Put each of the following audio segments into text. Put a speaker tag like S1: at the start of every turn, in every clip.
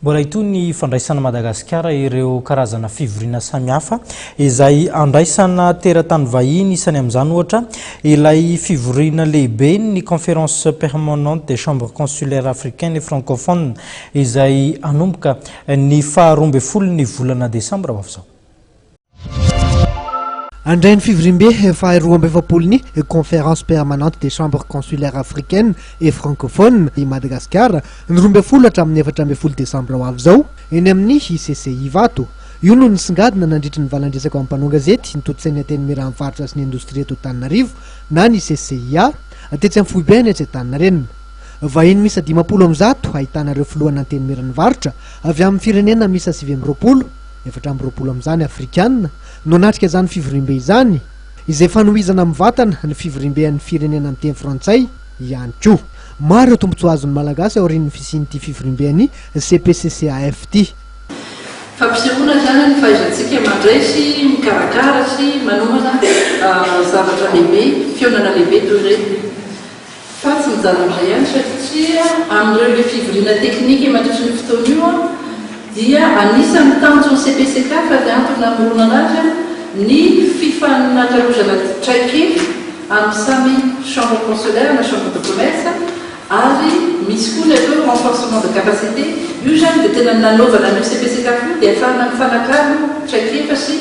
S1: Mbola hitohy ny fandraisan'i Madagasikara ireo karazana fivoriana samihafa izay andraisana teratany vahiny, isany amin'izany ohatra ilay fivoriana lehiben'ny Conférence Permanente des Chambres Consulaires Africaines et Francophones izay hanomboka ny faha roa ambin'ny folon'ny volana desambra ho avy izao.
S2: Handray ny fivoriambe faharoa amby efapolo ny Conférence permanente des chambres consulaires africaines et francophones i Madagasikara, ny roa ambin'ny folo hatramin'ny efatra ambin'ny folo desambra ho avy izao, eny amin'ny ICC Ivato. Io no nisongadina nandritry ny valan-dresaka ho an'ny mpanao gazety, ny tontosain'ny Antenimieran'ny faritra sy ny indostria eto Antananarivo na ny CCIA, tetsy amin'ny foibe any Antsetaninarenina. Vahiny miisa dimampolo amby zato, ahitana ireo filohan'ny Antenimieran'ny varotra avy amin'ny firenena miisa sivy amby roapolo, Efatra amby roapolo amin'izany Afrikana no hanatrika izany fivoriambe izany, izay fanohizana mivatana ny fivoriamben'ny firenena miteny frantsay ihany koa. Maro ireo tombontsoa azon'ny Malagasy aorian'ny fisian'ity fivoriamben'ny CPCCAF ity. Fampisehoana
S3: izany ny fahaizantsika mandray sy mikarakara sy manomana zavatra lehibe, fihaonana lehibe toy ireny. Fa tsy mijanona amin'izay ihany satria amin'ireo be fivoriana teknika mandritry ny fotoana io dia anisan'ny tanjon'ny CPCCAF ary antony namoronana azy ny fifanakalozana traikefa amin'ny samy chambre consulaire na chambre de commerce ary misy koa ny atao renforcement de capacité. Io izany dia tena ny nanaovana an'io CPCCAF io dia afahana mifanakalo traikefa sy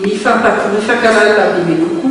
S3: mifankahalala bebe kokoa.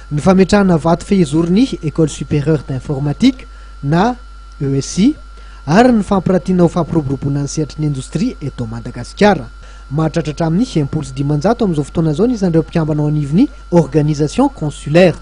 S2: Ny fametrahana vato fehizorony École Supérieure d'Informatique na ESI ary ny fampiratiana ho fampiroboroboana ny sehatry ny indostria eto Madagasikara. Mahatratra hatramin'ny enimpolo sy dimanjato amin'izao fotoana izao ny isan'ireo mpikambana ao anivon'ny Organisation Consulaire.